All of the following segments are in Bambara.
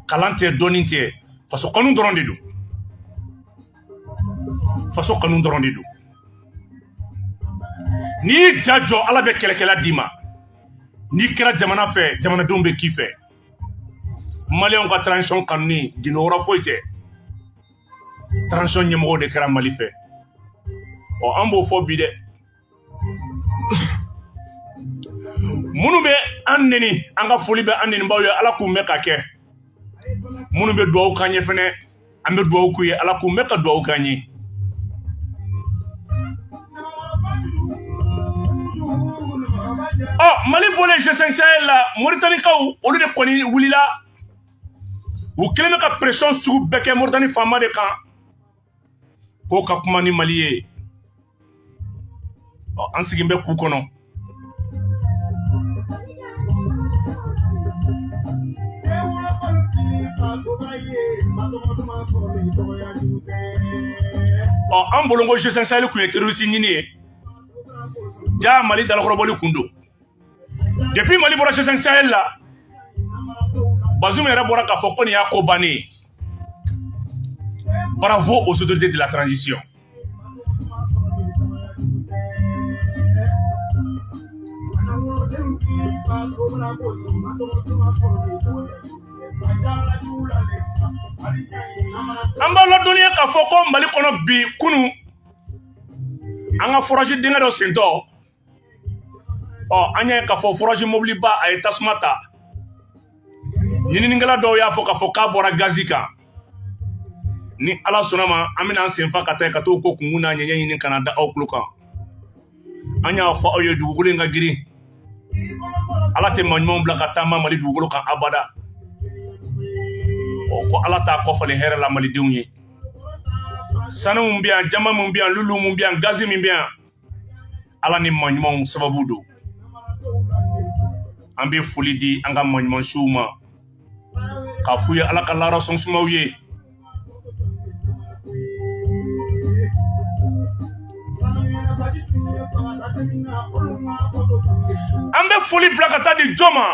kalan tɛ dɔɔnin tɛ faso kanu dɔrɔn de don faso kanu dɔrɔn de don n'i y'i ja jɔ ala bɛ kɛlɛkɛla d'i ma n'i kɛra jamana fɛ jamanadenw bɛ k'i fɛ maliyɛnw ka transition kanuni gundo wɛrɛ foyi tɛ transition ɲɛmɔgɔw de kɛra mali fɛ ɔ an b'o fɔ bi dɛ minnu bɛ an neni an ka foli bɛ an nenibaw ye ala k'u mɛn k'a kɛ minnu bɛ dugawu k'an ye fɛnɛ an bɛ dugawu k'u ye ala k'u mɛn ka dugawu k'an ye ɔ mali bɔlen g5 sahel la moritanikaw olu de kɔni wulila u kelen bɛ ka pression sugu bɛɛ kɛ moritani faama de kan k'o ka kuma ni mali ye ɔ an sigin bɛ k'u kɔnɔ ɔ an bolo ko g5 sahel kun ye terroriste ɲini ye jaa mali dalakɔrɔbɔli kun don depuis mali bɔra g5 sahel la bazum yɛrɛ bɔra k'a fɔ ko nin y'a ko bannen ye bravo aux autorités de la transition an b'a ladɔnniya k'a fɔ ko mali kɔnɔ bi kunu an ka forasi dingɛ dɔ sentɔ ɔ an y'a ye k'a fɔ forasi mɔbiliba a ye tasuma ta ɲininikɛla dɔw y'a fɔ k'a fɔ k'a bɔra gazi kan ni ala sɔnna ma an bɛna an senfa ka taa ka t'o ko kunkun n'a ɲɛɲɛ ɲini ka n'a da aw tulo kan an y'a fɔ aw ye dugukolo in ka girin ala tɛ maɲumanw bila ka taama mali dugukolo kan abada ɔ ko ala t'a kɔfalen hɛrɛ la malidenw ye sanu min bɛ yan jaman min bɛ yan lulu min bɛ yan gazi min bɛ yan ala ni maɲumanw sababu don an bɛ foli di an ka maɲumansiw ma k'a f'u ye ala ka laara so suma u ye an bɛ foli bila ka taa di jɔn ma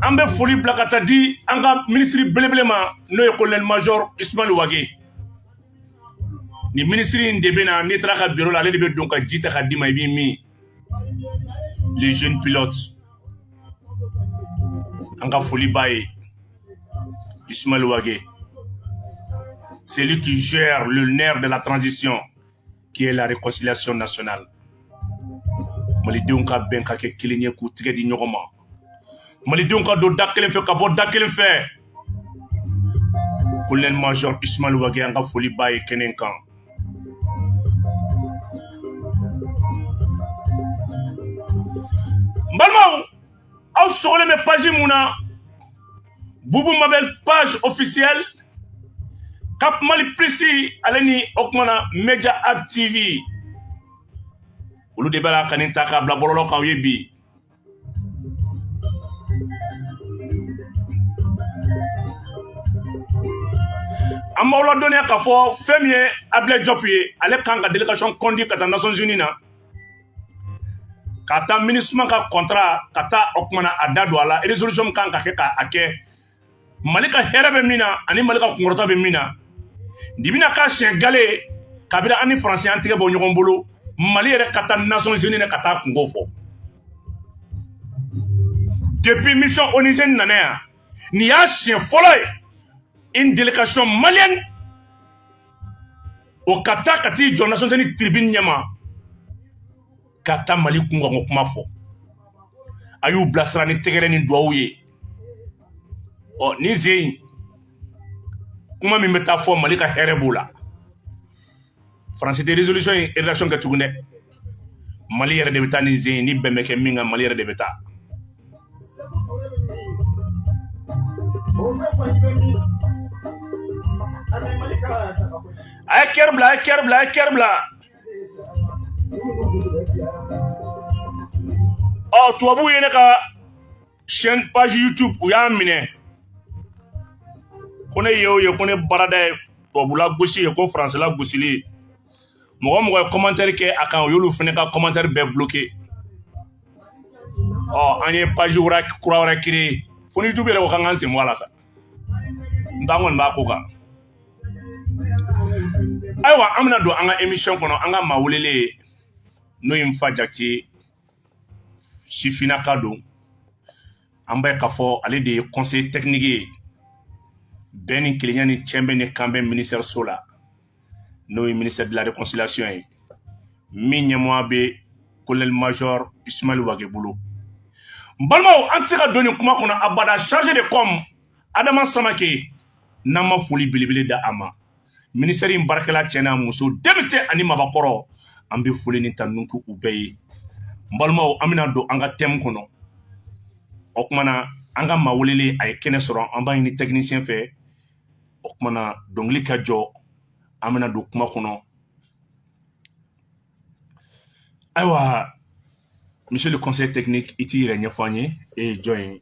an bɛ foli bila ka taa di an ka minisiri belebele ma n'o ye kolonɛli majɔr ismail wage nin minisiri in de bɛ na n'i taara a ka biro la ale de bɛ don ka ji ta k'a d'i ma i b'i min le jeune pilote an ka foli b'a ye Ismaël Wagué c'est lui qui gère le nerf de la transition qui est la réconciliation nationale malidenw ka bɛn ka kɛ kelen ye k'u tigɛ di ɲɔgɔn ma malidenw ka don da kelen fɛ ka bɔ da kelen fɛ colonel major ismaël wagué an ka foli b'a ye kɛnɛ kan n balimaw aw sogolen bɛ page mun na bubu mabɛl page officiel cap mali plus ale ni o kuma na media ab tv olu de b'a la ka nin ta k'a bila bɔlɔlɔ kan aw ye bi an b'aw ladɔnniya k'a fɔ fɛn min ye ablaye diop ye ale kan ka délégation conduire ka taa nations unies na ka taa minusma ka contrat ka taa o kumana a da don a la résolution min kan ka kɛ ka a kɛ mali ka hɛrɛ bɛ min na ani mali ka kunkɔrɔta bɛ min na nin bɛna k'a siɲɛ galɛ kabila an ni faransi an tigɛ bɔ ɲɔgɔn bolo mali yɛrɛ ka taa nations unies na ka taa kunko fɔ depuis mission onusienne nana yan nin y'a siɲɛ fɔlɔ ye une délégation malienne o ka taa ka t'i jɔ nations unies tribune ɲɛma ka taa mali kunkanko kuma fɔ a y'u bilasira ni tɛgɛrɛ ni duwawu ye ɔ nin sen in kuma min bɛ taa fɔ mali ka hɛrɛ b'o la faransi tɛ résolution in rédaction kɛ tugun dɛ mali yɛrɛ de bɛ taa nin sen in bɛn bɛ kɛ min kan mali yɛrɛ de bɛ taa a ye kɛri bila a ye kɛri bila a ye kɛri bila ɔ tubabuw ye ne ka chaîne page youtube u y'a minɛ ko ne y'o ye ko ne baarada ye tubabula gosi ye ko faransila gosili ye mɔgɔ o mɔgɔ ye kɔmantɛri kɛ a kan u y'olu fana ka kɔmantɛri bɛɛ bloke ɔ an ye page kura wɛrɛ créer fo ni youtube yɛrɛ ko k'an k'an sen bɔ a la sa n t'an kɔni b'a ko kan ayiwa an bɛna don an ka émission kɔnɔ an ka maa welelen n'o ye n fa jakite sifinnaka don an bɛ k'a fɔ ale de ye conseiller technique ye bɛn ni kelenya ni cɛbɛn ni kanbɛn ministère so la n'o ye ministère de la réconciliation ye min ɲɛmɔgɔya bɛ colonel major ismaël wagué bolo n balimaw an tɛ se ka don nin kuma kɔnɔ abada chargé de com adama samake n'an ma foli belebele da a ma minisitɛri in baarakɛla cɛ n'a muso denmisɛn ani mabakɔrɔ an bɛ foli ni tanu k'u bɛɛ ye n balimaw an bɛna don an ka tɛmu kɔnɔ o kuma na an ka maa welelen a ye kɛnɛ sɔrɔ an b'a ɲini tɛkinisiyɛn fɛ o kuma na dɔnkili ka jɔ an bɛna don kuma kɔnɔ ayiwa monsieur le conseiller technique i t'i yɛrɛ ɲɛfɔ an ye e ye jɔn ye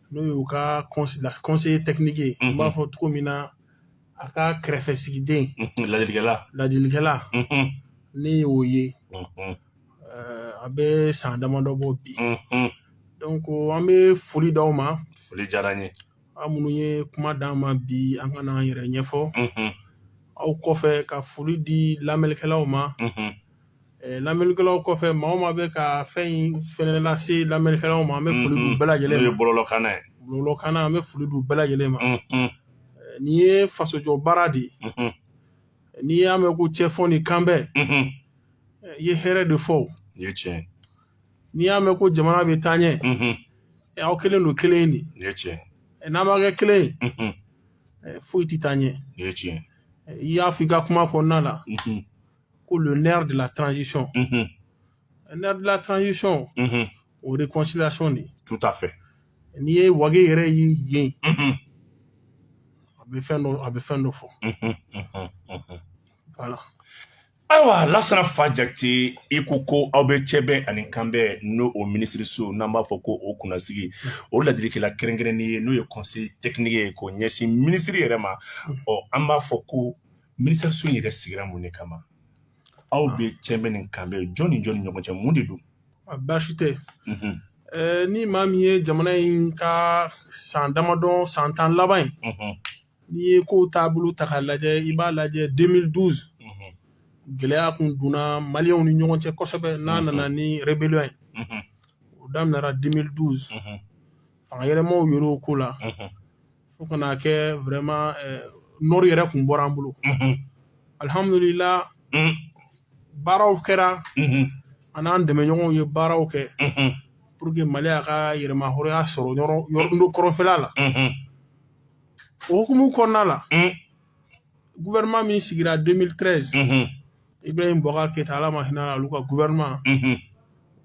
n'o y'u ka conseiller technique ye n b'a fɔ cogo min na a ka kɛrɛfɛ sigiden ladilikɛla ladilikɛla ne y'o ye a bɛ san damadɔ bɔ bi donc an bɛ foli d' aw ma foli diyara n ye aw minnu ye kuma d'an ma bi an ka n'an yɛrɛ ɲɛfɔ aw kɔfɛ ka foli di lamɛnlikɛlaw ma Eh, lamɛnnikɛlaw kɔfɛ maa o maa bɛ ka fɛn in fɛnɛ lase lamɛnnikɛlaw ma an bɛ foli d'u bɛɛ lajɛlen ma bɔlɔlɔkanna ye bɔlɔlɔkanna an bɛ foli d'u bɛɛ lajɛlen ma eh, nin ye fasojɔ baara de ye eh, n'i y'a mɛn ko cɛfɔ ni kanbɛn i ye hɛrɛ de fɔ n'i y'a mɛn ko jamana bɛ taa ɲɛ aw kelen don kelen de n'an ma kɛ kelen ye foyi tɛ taa ɲɛ i y'a fɔ i ka kuma kɔnɔna la ko le nerf de la transition unhun le nerf de la transition unhun o réconciliation de ye tout à fait n'i ye wage yɛrɛ ye yen unhun a bɛ fɛn dɔ a bɛ fɛn dɔ fɔ unhun unhun unhun voilà ayiwa lasana nfa jakite i ko ko aw bɛ cɛbɛn ani kanbɛn n'o o minisiriso n'an b'a fɔ ko o kunnasigi o ladilikɛla kɛrɛnkɛrɛnnen ye n'o ye conseiller technique ye k'o ɲɛsin minisiri yɛrɛ ma ɔ an b'a fɔ ko Minisiriso in yɛrɛ sigira mun de kama aw bɛ cɛbɛn ni kanbɛn jɔn ni jɔn ni ɲɔgɔn cɛ mun de don baasi tɛ ni maa min ye jamana in ka san damadɔ san tan laban in n'i ye ko taabolo ta k'a lajɛ i b'a lajɛ 2012 gɛlɛya tun donna maliyɛnw ni ɲɔgɔn cɛ kosɛbɛ n'a nana ni rébellion ye o daminɛra 2012 fanga yɛlɛmaw yɛrɛ o ko la fo ka n'a kɛ vraiment nord yɛrɛ kun bɔra an bolo alihamdulila baaraw kɛra an n'an dɛmɛɲɔgɔnw ye baaraw kɛ pour que mali a ka yɛrɛmahɔrɔnya sɔrɔ yɔrɔ kɔrɔnfɛla la o hukumu kɔnɔna la gouvernement min sigira 2013 unhun ibrahim bubakar keyita ala ma hinɛ a la olu ka gouvernement unhun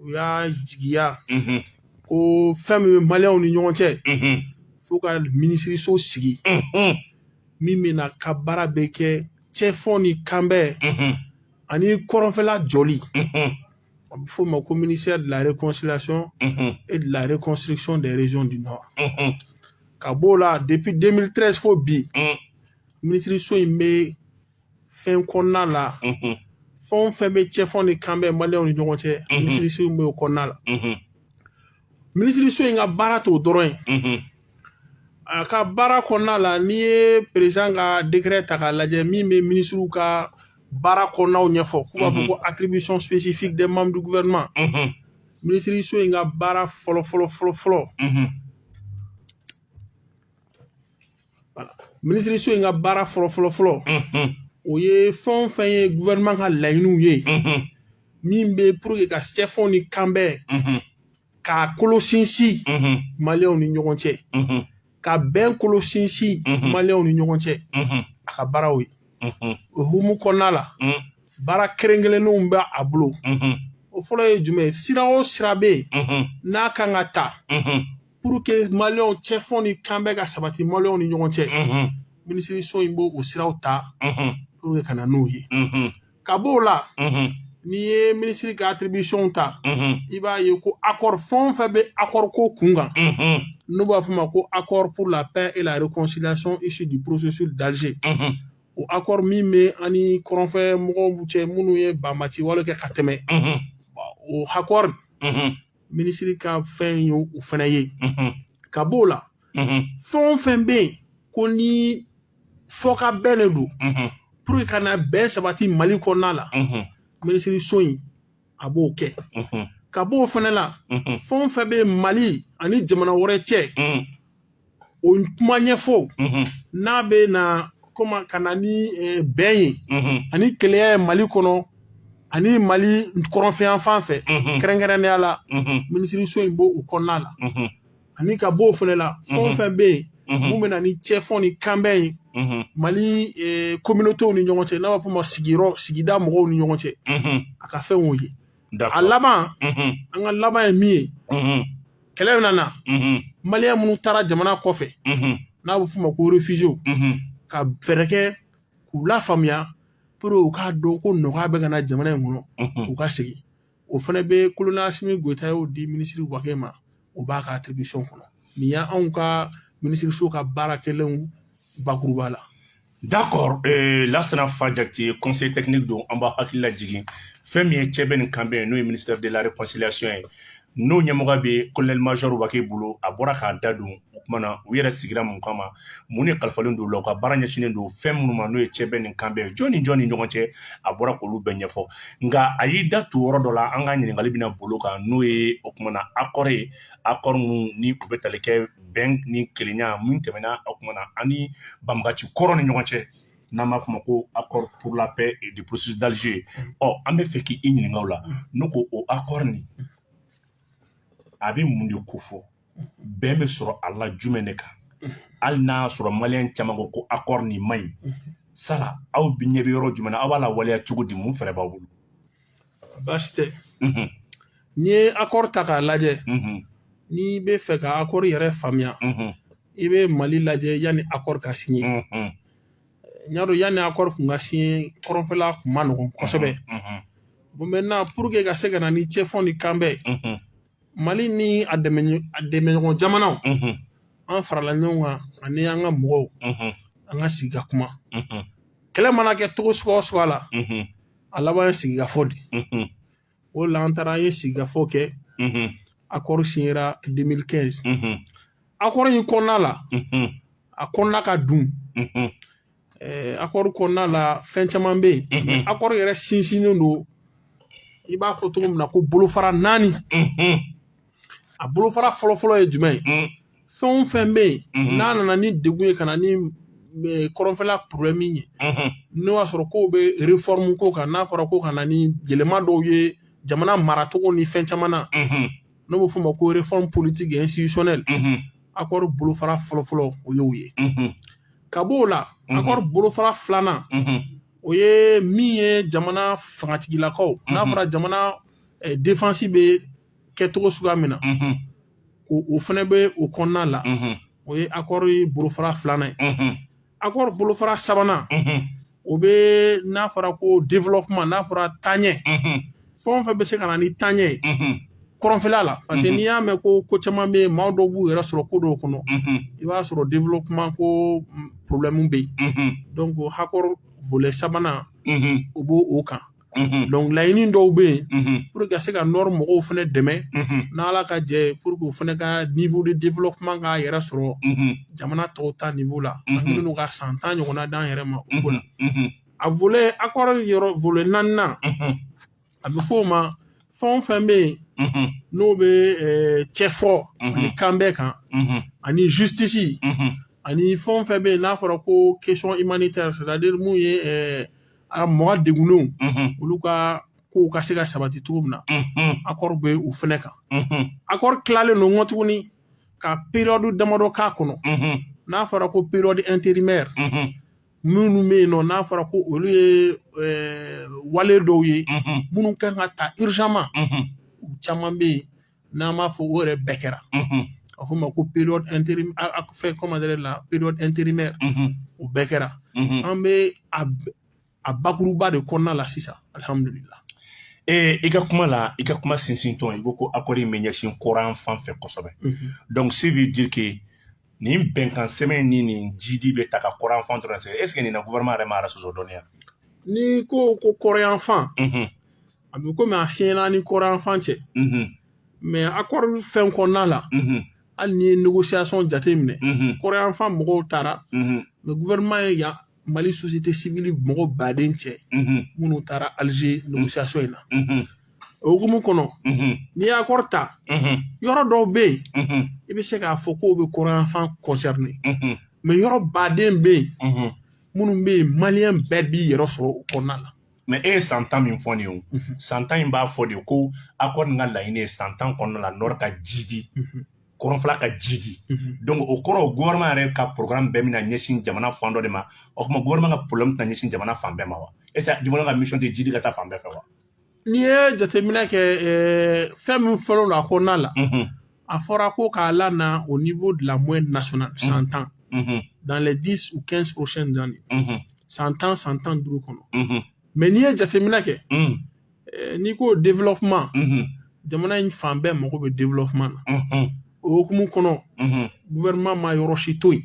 u y'a jigiya unhun ko fɛn min bɛ maliyɛnw ni ɲɔgɔn cɛ unhun fo ka minisiriso sigi unhun min bɛn'a ka baara bɛɛ kɛ cɛfɔ ni kanbɛn unhun ani kɔrɔnfɛla jɔli unhun a bɛ f'o ma ko ministère de la réconciliation et de la reconstruction des régions du nord ka b'o la depuis 2013 fo bi minisiriso in bɛ fɛn kɔnɔna la fɛn o fɛn bɛ cɛfɔ ni kanbɛn maliyɛnw ni ɲɔgɔn cɛ minisiriso in bɛ o kɔnɔna la minisiriso in ka baara t'o dɔrɔn ye mhm. a ka baara kɔnɔna la n'i ye perezan ka décret ta k'a lajɛ min bɛ minisiriw ka baara kɔnɔnaw ɲɛfɔ k'u b'a fɔ mhm. ko attribution spécifique des membres du gouvernement mhm. minisiriso in ka baara fɔlɔ fɔlɔ fɔlɔ fɔlɔ minisiriso in ka baara fɔlɔ fɔlɔ fɔlɔ o ye fɛn o fɛn ye gouvernement ka laɲiniw ye min bɛ pour que ka cɛfɔ ni kanbɛn k'a kolo sinsin maliyɛnw ni ɲɔgɔn cɛ ka bɛn kolo sinsin maliyɛnw ni ɲɔgɔn cɛ a ka baaraw ye o hukumu kɔnɔna la baara kɛrɛnkɛrɛnnenw bɛ a bolo o fɔlɔ ye jumɛn ye sira o sira bɛ yen n'a kan ka ta pour que maliyɛnw cɛfɔ ni kanbɛn ka sabati maliyɛnw ni ɲɔgɔn cɛ minisiriso in b'o o siraw ta pour que ka na n'o ye ka b'o la n'i ye minisiri ka attribution ta i b'a ye ko accord fɛn o fɛn bɛ accord ko kun kan n'u b'a f'o ma ko accord pour la paix et la réconciliation issu du processus d'Alger o accord min bɛ an ni kɔrɔnfɛ mɔgɔw cɛ minnu ye banbaanci wale kɛ ka tɛmɛ o accord minisiri ka fɛn ye o fana ye ka b'o la fɛn o fɛn bɛ yen ko ni fɔkabɛn de don pour que ka na bɛn sabati mali kɔnɔna la minisiriso in a b'o kɛ ka b'o fana la fɛn o fɛn bɛ mali ani jamana wɛrɛ cɛ o kuma ɲɛfɔ n'a bɛ na kɔma ka na ni eh, bɛn ye ani kelenya ye mali kɔnɔ ani mali kɔrɔnfɛyanfan fɛ kɛrɛnkɛrɛnnenya la minisiriso in b'o o kɔnɔna la ani ka b'o fana la fɛn o fɛn bɛ yen min bɛ na ni cɛfɔ ni kanbɛn ye mali kominotew eh, ni ɲɔgɔn cɛ n'a b'a fɔ o ma sigiyɔrɔ sigida mɔgɔw ni ɲɔgɔn cɛ a ka fɛn o ye a laban an ka laban ye min ye kɛlɛ min nana maliyɛn minnu taara jamana kɔfɛ n'a bɛ f'o ma ko réfugiéw ka fɛɛrɛ kɛ k'u lafaamuya pour u k'a dɔn ko nɔgɔya bɛ ka na jamana in kɔnɔ u ka segin o fana bɛ kolonɛli asimi goyita y'o di minisiri wage ma o b'a ka attribution kɔnɔ nin y'anw ka minisiriso ka baara kɛlenw bakuruba la D'accord euh, Lassana Fa Jakite conseil technique don an b'a hakili lajigin fɛn min ye cɛbɛn ni kanbɛn n'o ye ministère de la réconciliation ye n'o ɲɛmɔgɔ bɛ colonel major Wagué bolo a bɔra k'a da don o kuma na u yɛrɛ sigira mun kama mun de kalifalen don u la u ka baara ɲɛsinnen don fɛn minnu ma n'o ye cɛbɛn ni kanbɛn jɔn ni jɔn ni ɲɔgɔn cɛ a bɔra k'olu bɛɛ ɲɛfɔ nka a y'i da tu yɔrɔ dɔ la an ka ɲininkali bɛna boli o kan n'o ye o kuma na accord ye accord min ni o bɛ tali kɛ bɛn ni kelenya min tɛmɛna a kuma na an ni banbaganci kɔrɔw ni ɲɔgɔn cɛ n'an b'a fɔ a ma ko accord pour la paix et du processus d'Alger ɔ an b'a fɛ k'i ɲininka o la ne ko o accord nin a bɛ mun de kofɔ bɛn bɛ sɔrɔ a la jumɛn de kan hali n'a y'a sɔrɔ maliyɛn caman ko ko accord nin man ɲi sala aw ɲɛ bɛ yɔrɔ jumɛn na aw b'a lawaleya cogo di mun fɛɛrɛ b'aw bolo baasi tɛ n'i ye akɔri ta k'a lajɛ n'i b'a fɛ ka akɔri yɛrɛ faamuya i bɛ mali lajɛ yanni akɔri ka siɲɛ i y'a dɔn yanni akɔri kun ka siɲɛ kɔrɔnfɛla kun man nɔgɔn kosɛbɛ maintenant pour que ka se ka na ni cɛfɔ ni kanbɛn mali ni a dɛmɛɲɔgɔn jamanaw an farala ɲɔgɔn kan ani an ka mɔgɔw an ka sigi ka kuma kɛlɛ mana kɛ cogo suguya o suguya la A laban ye sigikafɔ de ye o la an taara an ye sigikafɔ kɛ akɔri siɲɛra deux mille quinze akɔri in kɔnɔna la a kɔnɔna ka dun akɔri kɔnɔna la fɛn caman bɛ yen akɔri yɛrɛ sinsinnen don i b'a fɔ cogo min na ko bolofara naani a bolofara fɔlɔfɔlɔ ye jumɛn ye mm. fɛn o fɛn bɛ yen mm-hmm. n'a nana ni degun ye ka na ni eh, kɔrɔnfɛla porobilɛmu ye mm-hmm. n'o y'a sɔrɔ k'o bɛ refɔrimu ko kan n'a fɔra ko ka na ni yɛlɛma dɔw ye jamana maracogo ni fɛn caman na mm-hmm. n'a bɛ f'o ma ko refɔrimu politiki ɛnsititiɔnɛli akɔri bolofara fɔlɔfɔlɔ o y'o ye ka b'o la akɔri bolofara filanan o ye min ye jamana fangatigilakow n'a fɔra jamana eh, defansi bɛ kɛcogo suguya min na o fana bɛ o kɔnɔna la o ye akɔri bolofara filanan ye akɔri bolofara sabanan o bɛ n'a fɔra ko développement n'a fɔra taaɲɛ fɛn o fɛn bɛ se ka na ni taaɲɛ ye kɔrɔnfɛla la parce que n'i y'a mɛn ko ko caman bɛ yen maa dɔw b'u yɛrɛ sɔrɔ ko dɔw kɔnɔ i b'a sɔrɔ développement ko problème bɛ yen donc akɔri volet sabanan o b'o kan dɔnku laɲini dɔw bɛ yen pour que ka se ka nɔri mɔgɔw fana dɛmɛ n'ala ka jɛ pour que u fana ka niveau de développement k'a yɛrɛ sɔrɔ jamana tɔw ta niveau la minnu ka san tan ɲɔgɔnna d'an yɛrɛ ma u bolo a volet accord yɔrɔ volet naaninan a bɛ fɔ' o ma fɛn fɛn bɛ yen n'o bɛ cɛfɔ ani kanbɛn kan ani justice ani fɛn fɛn bɛ yen n'a fɔra ko questions humanitaires c'est-à-dire minnu ye A mɔgɔ degunnenw olu ka kow ka se ka sabati cogo min na akɔri bɛ o fana kan akɔri tilalen don nko tuguni ka période damadɔ k'a kɔnɔ n'a fɔra ko période intérimaire minnu bɛ yen nɔ n'a fɔra ko olu ye wale dɔw ye minnu ka kan ka ta urgemment u caman bɛ yen n'an b'a fɔ o yɛrɛ bɛɛ kɛra a f'o ma ko période fɛn comment dire la période intérimaire o bɛɛ kɛra an bɛ a bakuruba de kɔnɔna la sisan alihamdulila ee i ka kuma la i ka kuma sinsintɔn i ko ko akɔri in bɛ ɲɛsin kɔrɔnfan fɛ kosɛbɛ dɔnku ça veut dire que nin bɛnkan sɛbɛn ni nin jidi bɛ taa ka kɔrɔnfan dɔrɔn sɛgɛrɛ est-ce que nin na gouvernement yɛrɛ m'a yɛrɛ sɔsɔ dɔɔnin wa n'i ko ko kɔrɔnyanfan a bɛ komi a siɲɛna ni kɔrɔnfan cɛ mɛ accord fɛn kɔnɔna la hali n'i ye négociation jate minɛ kɔrɔnfan mɔgɔw taara mɛ gouvernement ye yan mali société civile mɔgɔ baden cɛ minnu taara alger négociation in na o hukumu kɔnɔ n'i ye accord ta yɔrɔ dɔw bɛ yen i bɛ se k'a fɔ k'o bɛ kɔrɔnfan concerné mɛ yɔrɔ baden bɛ yen minnu bɛ yen maliyɛn bɛɛ b'i yɛrɛ sɔrɔ o kɔnɔna la mɛ e ye san tan min fɔ nin ye o mhm. san tan in b'a fɔ de ko accord nin ka laɲini ye san tan kɔnɔna la nɔri ka jidi mhm. kɔrɔnfɛla ka jidi mhm. donc o kɔrɔ gouvernement yɛrɛ ka programme bɛɛ bɛna ɲɛsin jamana fan dɔ de ma o tuma gouvernement ka problème tɛna ɲɛsin jamana fan bɛɛ ma wa est ce que jamana ka mission tɛ jidi ka taa fan bɛɛ fɛ wa n'i ye jateminɛ kɛ fɛn min fɔlen don a kɔnɔna la a fɔra ko k'a lana au niveau de la moyenne nationale mm. san tan mm-hmm. dans les 10 ou 15 prochaines années mm-hmm. san tan san tan duuru kɔnɔ mm-hmm. mais n'i ye jateminɛ kɛ mm. eh, n'i ko développement jamana in fan bɛɛ mago bɛ développement na o hukumu kɔnɔ gouvernement ma yɔrɔ si to yen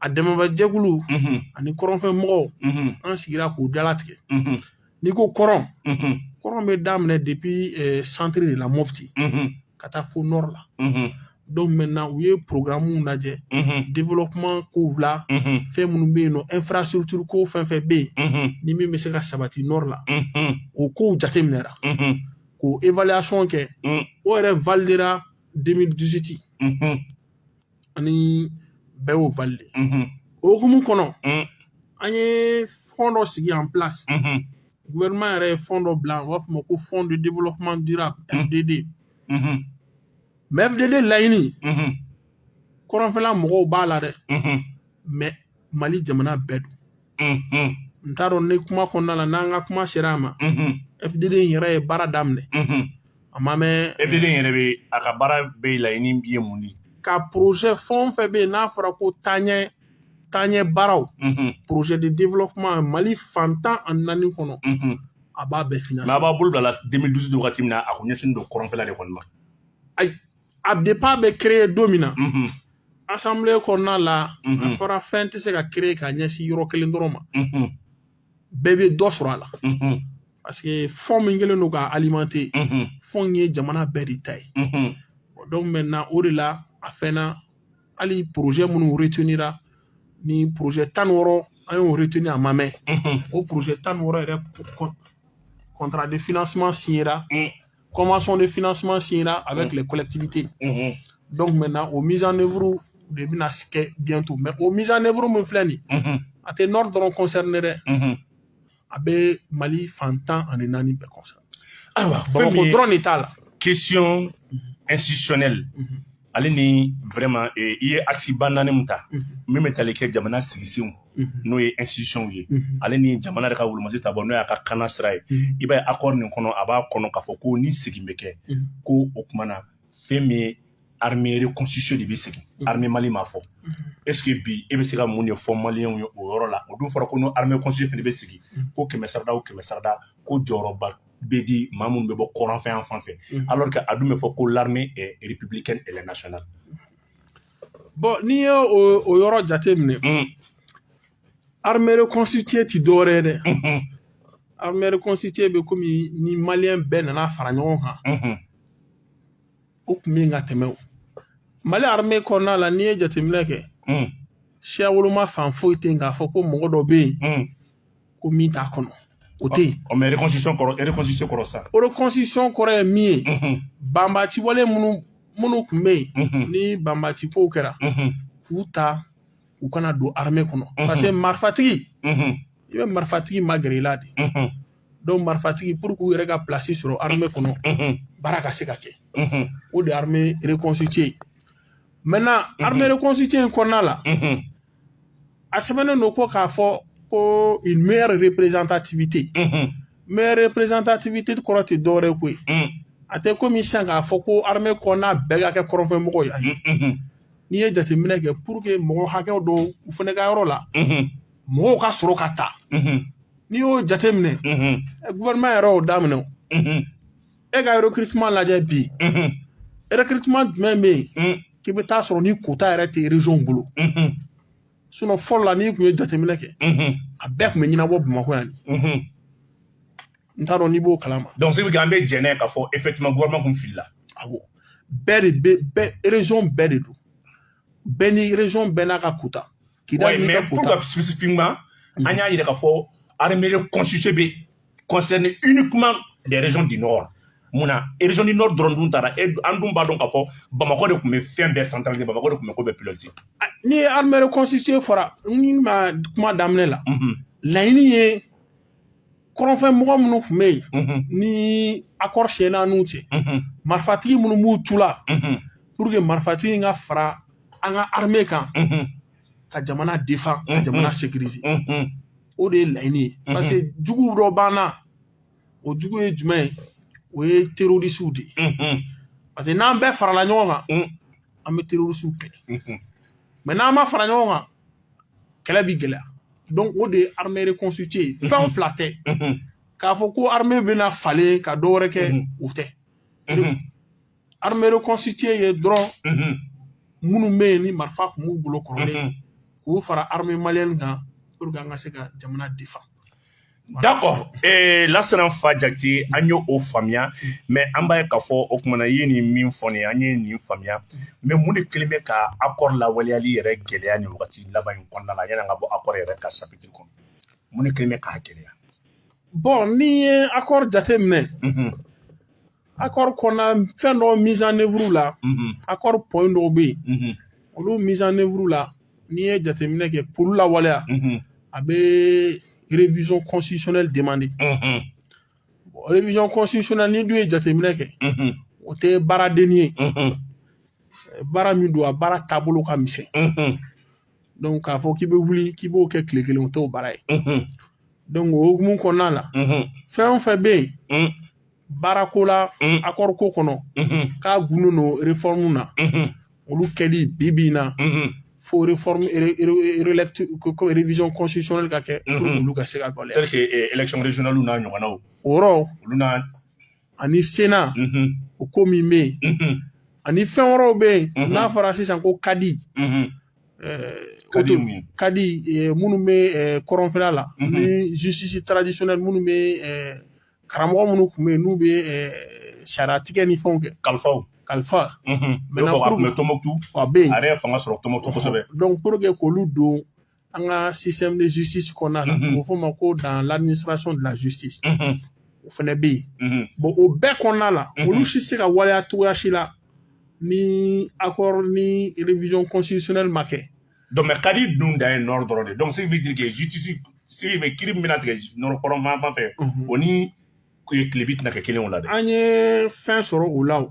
a dɛmɛbajɛkulu ani kɔrɔnfɛ mɔgɔw an sigira k'o de latigɛ n'i ko kɔrɔn kɔrɔn bɛ daminɛ depuis centre de la mɔpiti ka taa fo nɔri la donc maintenant u ye programmew lajɛ développement kow la fɛn minnu bɛ yen nɔ infrastructure ko fɛn fɛn bɛ yen ni min bɛ se ka sabati nɔri la o kow jateminɛra k'o évaluation kɛ o yɛrɛ validera 2018 ani bɛɛ y'o valide o hukumu kɔnɔ an ye fɔn dɔ sigi en place gouvernement yɛrɛ ye fɔn dɔ bila u b'a fɔ a ma ko fonds de développement durable fdd mɛ fdd laɲini kɔrɔnfɛla mɔgɔw b'a la dɛ mɛ mali jamana bɛɛ don n t'a dɔn ni kuma kɔnɔna la n'an ka kuma sera a ma fdd in yɛrɛ ye baara daminɛ a ma mɛn fdd in yɛrɛ bɛ a ka baara bɛɛ laɲini ye mun de ka porozɛ fɛn o fɛn bɛ yen n'a fɔra ko taaɲɛ taaɲɛ baaraw porozɛ de développement mali fan tan ani naani kɔnɔ a b'a bɛɛ financer a b'a bolo bilala 2012 wagati min na a tun ɲɛsinnen don kɔrɔnfɛla de kɔni ma ayi a depa bɛ créé don min na asanbile kɔnɔna la a fɔra fɛn tɛ se ka créé ka ɲɛsin yɔrɔ kelen dɔrɔn ma bɛɛ bɛ dɔ sɔrɔ a la parce que fɔn min kɛlen don k'a alimenter fɔn ye jamana bɛɛ de ta ye donc maintenant o de la a fɛnna hali projet minnu retenira ni projet tan ni wɔɔrɔ an y'o retenu a ma mɛn o projet tan ni wɔɔrɔ yɛrɛ contrat de financement signera convention de financement signera avec mm. les collectivités. Mm -hmm. Donc maintenant, o mise en œuvre de bɛna kɛ bientôt. Mais o mise en œuvre min filɛ nin ye, mm-hmm. a tɛ Nord dɔrɔn concerné dɛ. Mm-hmm. A bɛ Mali fan tan ani naani bɛɛ concerné. Ayiwa, Bamakɔ dɔrɔn de t'a la. Question mm-hmm. institutionnelle. Mm -hmm. ale ni vraiment eh, i ye actiba naani min ta mhm. min bɛ tali kɛ jamana sigisenw mhm. n'o ye institutionw ye mhm. ale ni jamana de ka wulumasi ta bɔ n'o y'a ka kana sira ye i b'a ye accord nin kɔnɔ a b'a kɔnɔ k'a fɔ ko ni segin bɛ kɛ kɔ o kuma na fɛn min ye armée reconstituée de bɛ segin armée mali ma fɔ est ce que bi e bɛ se ka mun de fɔ maliyɛnw ye o yɔrɔ la o dun fɔra ko n'o armée reconstituée fana bɛ segin ko kɛmɛ sarada o kɛmɛ sarada ko jɔyɔrɔba bɛ di maa minnu bɛ bɔ kɔrɔnfɛ yan fan fɛ mhm. alors que a dun bɛ fɔ ko l'armée est républicaine elle est nationale bon n'i ye o o yɔrɔ jate minɛ mm. armée reconstituée ti dɔwɛrɛ ye dɛ mhm. armée reconstituée bɛ komi ni maliyɛn bɛɛ nana fara ɲɔgɔn kan mhm. o tun bɛ yen ka tɛmɛ o mali armée kɔnɔna la n'i ye jateminɛ kɛ mm. siya woloma fan foyi tɛ yen k'a fɔ ko mɔgɔ dɔ bɛ yen mm. ko min t'a kɔnɔ o tɛ yen. ɔ mɛ reconstitution kɔrɔ reconstitution kɔrɔ sa. reconstitution kɔrɔ ye min ye. Mhm. banbaci wale minnu minnu tun bɛ yen. Mhm. ni banbaci kow kɛra. Mhm. k'u ta u ka na don armée kɔnɔ. parce que marifatigi. i bɛ marifatigi magɛrɛ i la de. donc marifatigi pour k'u yɛrɛ ka place sɔrɔ armée kɔnɔ. baara ka se ka kɛ. o de ye armée reconstituée ye. maintenant armée reconstituée in kɔnɔna la. a sɛbɛnnen don ko k'a fɔ ko une meilleure représentativité Mhm. meilleure représentativité kɔrɔ tɛ dɔwɛrɛ ye koyi Mm. a tɛ komi sisan k'a fɔ ko armée kɔnɔna bɛɛ ka kɛ kɔrɔnfɛmɔgɔ ye ayi Mhm. n'i ye jateminɛ kɛ pour que mɔgɔ hakɛw dɔw u fana ka yɔrɔ la Mhm. mɔgɔw ka sɔrɔ ka ta Mhm. n'i y'o jateminɛ Mhm. eh, gouvernement yɛrɛ y'o daminɛ o. Mhm. e ka recrutement lajɛ bi recrutement jumɛn bɛ yen k'i bɛ t'a sɔrɔ ni kota yɛrɛ tɛ région bolo sinɔn fɔlɔ la n'i tun ye jateminɛ kɛ a bɛɛ tun bɛ ɲɛnabɔ bamakɔ yan de n t'a dɔn n'i b'o kalama donc sebe an bɛ jɛn n'a ye k'a fɔ effectivement gouvernement tun filila awɔ bɛɛ de bɛ bɛɛ région bɛɛ de don bɛɛ ni région bɛɛ n'a ka kota Kida ouais, mais pourquoi spécifiquement mm -hmm. an y'a yira k'a fɔ armée reconstituée bɛ concerne uniquement les régions du nord mun na région du nord dɔrɔn dun tara an dun b'a dɔn k'a fɔ bamakɔ de tun bɛ fɛn bɛɛ centralisé bamakɔ de tun bɛ ko bɛɛ piloté ni armée reconstituée fɔra n ma kuma daminɛ la laɲini ye kɔrɔnfɛ mɔgɔ minnu tun bɛ yen mhm. ni akɔri siɲɛna n'u cɛ mhm. marifatigi minnu b'u cɛ la mhm. puruke marifatigi in ka fara an ka arime kan ka jamana defan ka jamana sekirize o de ye laɲini ye parce que jugu dɔ b'an na o jugu ye jumɛn ye o ye terorisiw de ye parce que n'an bɛɛ farala ɲɔgɔn kan an bɛ terorisiw kɛlɛ mɛ n'an ma fara ɲɔgɔn kan kɛlɛ bi gɛlɛya donc o de ye armée reconstituée ye mhm. fɛn fila tɛ mhm. k'a fɔ ko armée bɛna falen ka dɔ wɛrɛ kɛ mhm. o tɛ armée reconstituée ye dɔrɔn minnu bɛ yen ni marifa tun b'u bolo kɔrɔlen k'u fara armée malienne kan pour que an ka se ka jamana defan D'accord ee lasana nfa jakite an ye o faamuya mɛ an b'a ye k'a fɔ o tuma na i ye nin min fɔ nin ye an ye nin faamuya mɛ mun de kɛlen bɛ ka accord lawaleyali yɛrɛ gɛlɛya nin wagati laban in kɔnɔna la yanni an ka bɔ accord yɛrɛ ka sapitiri kɔnɔ mun de kɛlen bɛ k'a gɛlɛya bɔn n'i ye accord jateminɛ accord kɔnɔna fɛn dɔw mise en œuvre la accord point dɔw bɛ yen olu mise en œuvre la n'i ye jateminɛ kɛ k'olu lawaleya a bɛ révision constitutionnelle demander révision constitutionnelle n'i dun ye jateminɛ kɛ o tɛ baara dennin ye baara min don a baara taabolo ka misɛn donc k'a fɔ k'i bɛ wuli k'i b'o kɛ tile kelen o t'o baara ye donc o hukumu kɔnɔna la fɛn o fɛn bɛ yen baarako la accord ko kɔnɔ k'a gundo don réforme na olu kɛli bi bi in na fo réforme ko révision constitutionnelle ka kɛ olu ka se ka waleya tel que élection régionalew n'a ɲɔgɔnnaw o yɔrɔ olu n'a ani sena o ko min bɛ yen ani fɛn wɛrɛw bɛ yen n'a fɔra sisan ko kadi kadi minnu bɛ kɔrɔnfɛla la ni justice traditionnelle minnu bɛ karamɔgɔ minnu tun bɛ yen n'u bɛ sariya tigɛ ni fɛnw kɛ kalifaw kalifa tɔnbɔkutu a bɛ yen a yɛrɛ fanga sɔrɔ tɔnbɔkutu kosɛbɛ donc pour que k'olu don an ka système de justice kɔnɔna na a bɛ fɔ o ma ko dans l'administration de la justice o fana bɛ yen bon o bɛɛ kɔnɔna la olu si tɛ se ka waleya cogoya si la ni accord ni révision constitutionnelle ma kɛ donc mais kadi dun dan ye nord dɔrɔn de donc ce qui veut dire que justice se bɛ kiri min bɛna tigɛ nord kɔrɔnfan fan fɛ o ni tilebi tɛna kɛ kelen o la dɛ an ye fɛn sɔrɔ o la o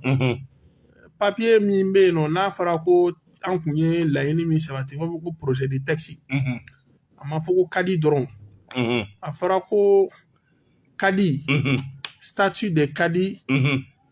papiye min bɛ yen nɔ n'a fɔra ko an tun ye laɲini min sabati b'a fɔ ko projet de texte a ma fɔ ko kadi dɔrɔn a fɔra ko kadi statut de kadi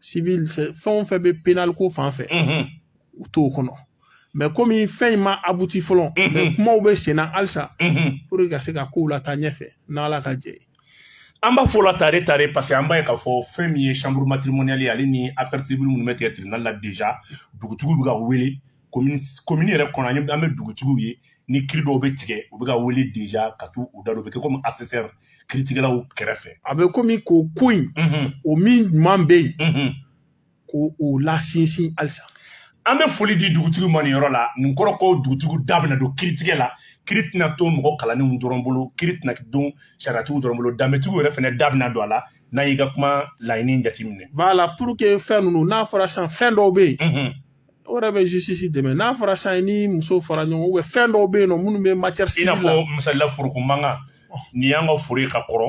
civil fɛn o fɛn bɛ penal ko fan fɛ u t'o kɔnɔ mais komi fɛn in ma abouti fɔlɔ mais kumaw bɛ sen na halisa pour que ka se ka kow lataa ɲɛfɛ n'ala ka jɛ ye an b'a fɔ a la tare tare parce que an b'a ye k'a fɔ fɛn min ye chambre matrimoniale ye ale ni affaire civile minnu bɛ tigɛ tribunal la déjà dugutigiw bɛ ka wele komini yɛrɛ kɔnɔ an bɛ dugutigiw ye ni kiri dɔw bɛ tigɛ u bɛ ka wele deja ka t'u da don u bɛ kɛ komi assesseur kiritigɛlaw kɛrɛfɛ a bɛ komi k'o ko in o min ɲuman bɛ yen k'o lasinsin halisa an bɛ foli di dugutigiw ma nin yɔrɔ la nin kɔrɔ ko dugutigiw da bɛna don kiritigɛ la kiri tɛna to mɔgɔ kalannenw dɔrɔn bolo kiri tɛna don sariyatigiw dɔrɔn bolo danbetigiw yɛrɛ fana da bɛna don a la n'an y'i ka kuma laɲini jateminɛ. Voilà pour que fɛn ninnu n'a fɔra sisan fɛn dɔw bɛ yen. o yɛrɛ bɛ justice dɛmɛ n'a fɔra sisan cɛ ni muso fara ɲɔgɔn bɛ fɛn dɔw bɛ yen nɔ minnu bɛ matière i n'a fɔ misalila foroko mankan ni y'an ka foro ka kɔrɔ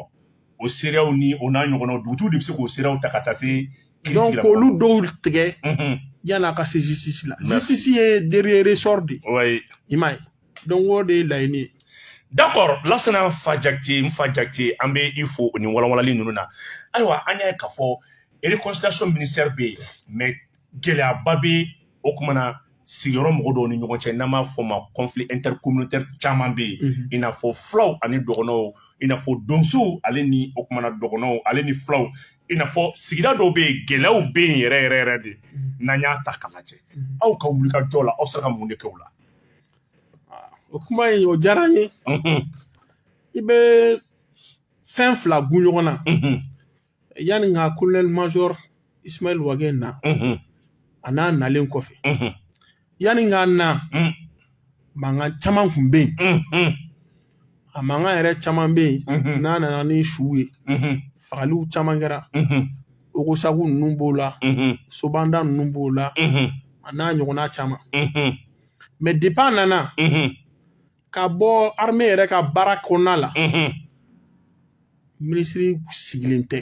o seereyaw ni o n'a ɲɔgɔnna dugutigiw de bɛ se k'o seereyaw ta ka taa se donc k'olu dɔw tigɛ yan'a ka se justice la justice ye dernier ressort de ye i m'a ye donc o de ye laɲini ye d'accord lasana n fa jakite n fa jakite an bɛ i fo o ni walawalali ninnu na ayiwa an y'a ye k'a fɔ réconciliation ministère bɛ yen mais gɛlɛyaba bɛ o kuma na sigiyɔrɔ mɔgɔ dɔw ni ɲɔgɔn cɛ n'an b'a fɔ ma conflit intercommunautaire caman bɛ yen i n'a fɔ fulaw ani dɔgɔnɔw i n'a fɔ donsow ale ni o kuma na dɔgɔnɔw ale ni fulaw i n'a fɔ sigida dɔw bɛ yen gɛlɛyaw bɛ yen yɛrɛ yɛrɛ yɛrɛ de n'an y'a ta k'a lajɛ aw ka wulikajɔ la aw sera ka mun de kɛ o la o kuma in o diyara n ye i bɛ fɛn fila gun ɲɔgɔn na yanni ka kolonɛli major ismail wage na an'a nalen kɔfɛ yanni k'a na mankan caman kun bɛ yen a mankan yɛrɛ caman bɛ yen n'a nana ni su ye fagaliw caman kɛra ogosagu ninnu b'o la sobanda ninnu b'o la a n'a ɲɔgɔnna caman mɛ depi a nana ka bɔ armée yɛrɛ ka baara kɔnɔna la minisiri sigilen tɛ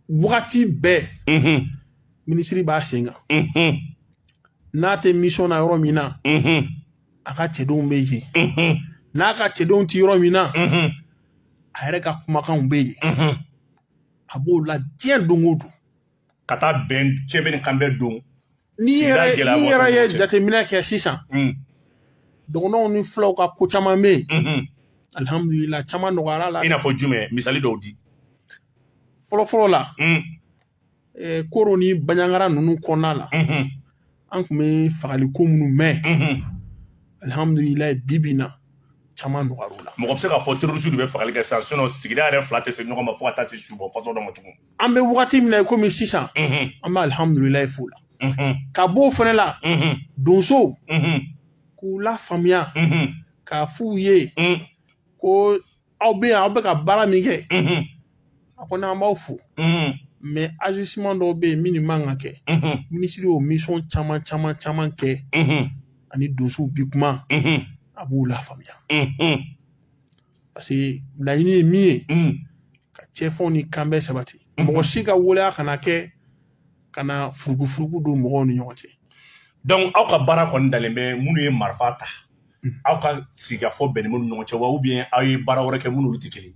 wagati bɛɛ minisiri b'a sen kan n'a tɛ misɔn na yɔrɔ min na a ka cɛdenw bɛ yen n'a ka cɛdenw tɛ yɔrɔ min na a yɛrɛ ka kumakanw bɛ yen a b'o la diɲɛ don o don ka taa bɛn cɛbɛn ni kanbɛn don n'i yɛrɛ ye jateminɛ kɛ sisan Mm, dɔgɔnɔw ni fulaw ka ko caman bɛ yen mhm. alihamudulila caman nɔgɔyara o la i n'a fɔ jumɛn misali dɔw di fɔlɔfɔlɔ la Mm, eh, koro ni baɲangara ninnu kɔnɔna la mhm, an tun bɛ fagali ko minnu mɛn mhm. alihamudulila bi bi in na caman nɔgɔyara o la mɔgɔ bɛ se k'a fɔ terroriste de bɛ fagali kɛ sisan sinon sigida yɛrɛ fila tɛ se ɲɔgɔn ma fo ka taa se subɔ fasɔn dɔ ma tugun an bɛ wagati min na komi sisan an bɛ alihamudulilayi f'o la ka b'o fana la donsow k'u lafaamuya k'a f'u ye ko aw bɛ yan aw bɛ ka baara min kɛ a kɔni an b'aw fo mɛ azisiman dɔw bɛ yen minnu man ka kɛ minisiri y'o misɔn caman caman caman kɛ ani donsow bi kuma a b'u lafaamuya paseke laɲini ye min ye ka cɛbɛn ni kanbɛn sabati mɔgɔ si ka waleya kana kɛ ka na furugufurugu don mɔgɔw ni ɲɔgɔn cɛ dɔnku aw ka baara kɔni dalen bɛ minnu ye marifa ta aw ka sigikafɔ bɛn ni minnu ɲɔgɔn cɛ wa ubiyɛn aw ye baara wɛrɛ kɛ minnu tɛ kelen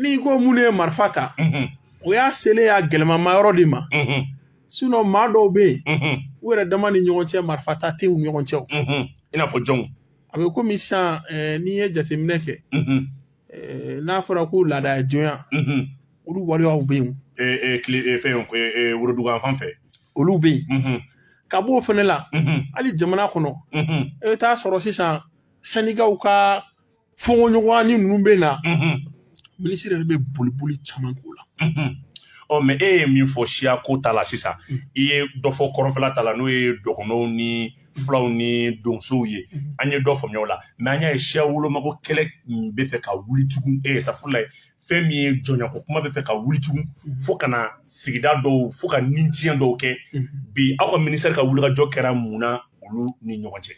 n'i ko minnu ye marifa ta o y'a selen y'a gɛlɛmama yɔrɔ de ma sinɔn maa dɔw bɛ yen u yɛrɛ dama ni ɲɔgɔn cɛ marifa ta tɛ u ɲɔgɔn cɛ i n'a fɔ jɔnw a bɛ komi sisan eh, n'i ye jateminɛ kɛ eh, n'a fɔra ko laada jɔnya olu waleyaw bɛ yen fɛn worodugu yanfan fɛ olu bɛ yen ka b'o fana la hali jamana kɔnɔ e bɛ taa sɔrɔ sisan sɛndikaw ka fɔɲɔgɔnya ni ninnu bɛ na minisiri yɛrɛ bɛ boliboli caman k'o la ɔ mɛ e ye min fɔ siya ko ta la sisan i ye dɔ fɔ kɔrɔnfɛla ta la n'o ye dɔgɔnɔw ni fulaw ni donsow ye mhm. an ye dɔ faamuya o la mɛ an y'a ye siya wolomako kɛlɛ bɛ fɛ ka wuli tugun e safurulayi fɛn min ye jɔnyako kuma bɛ fɛ ka wuli tugun mhm. fo ka na sigida dɔw fo ka nitiɲɛ dɔw kɛ mhm. bi aw ka minisitɛri ka wulikajɔ kɛra mun na olu ni ɲɔgɔn cɛ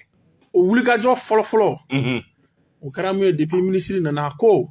o wulikajɔ fɔlɔfɔlɔ o kɛra mun ye depuis minisiri nana ko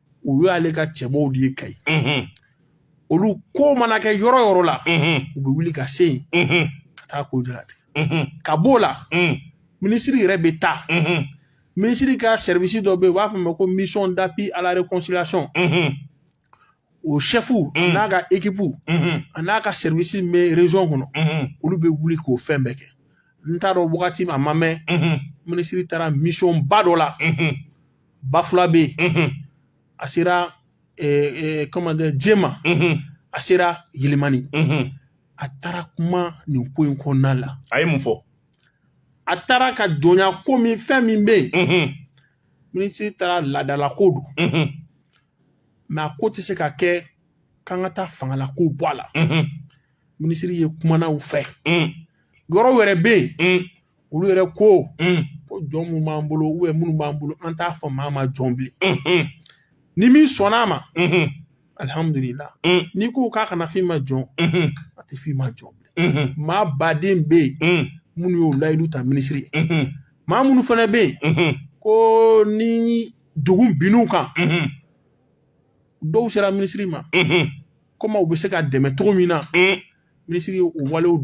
o y'ale ka cɛbɔw de ye kayi olu ko mana kɛ yɔrɔ yɔrɔ la u bɛ wuli ka se yen ka taa ko jalatigɛ ka b'o la minisiri yɛrɛ bɛ taa minisiri ka sɛribisi dɔ bɛ yen u b'a fɔ ma ko mission d'appui à la réconciliation o sɛfu n'a ka ekipu an'a ka sɛribisi min bɛ région kɔnɔ olu bɛ wuli k'o fɛn bɛɛ kɛ n t'a dɔn wagati min a ma mɛn minisiri taara mission ba dɔ la bafulabɛ a sera comment dire jɛma a sera yelimani a taara kuma nin ko in kɔnɔna la a ye mun fɔ a taara ka jɔnya ko min fɛn min bɛ yen minisiri taara laadalako don mɛ a ko tɛ se ka kɛ k'an ka taa fanga la k'o bɔ a la minisiri ye kumanaw fɛ yɔrɔ wɛrɛ bɛ yen olu yɛrɛ ko ko jɔn min b'an bolo ou bien minnu b'an bolo an t'a fɔ maa ma jɔn bilen ni min sɔnna a ma alihamudulila n'i ko k'a kana f'i ma jɔn a tɛ f'i ma jɔn bilen maaba de bɛ yen minnu y'o layidu ta minisiri ye maa minnu fana bɛ yen kɔni dugu binn'u kan dɔw sera minisiri ma komi u bɛ se ka dɛmɛ cogo min na minisiri y'o walew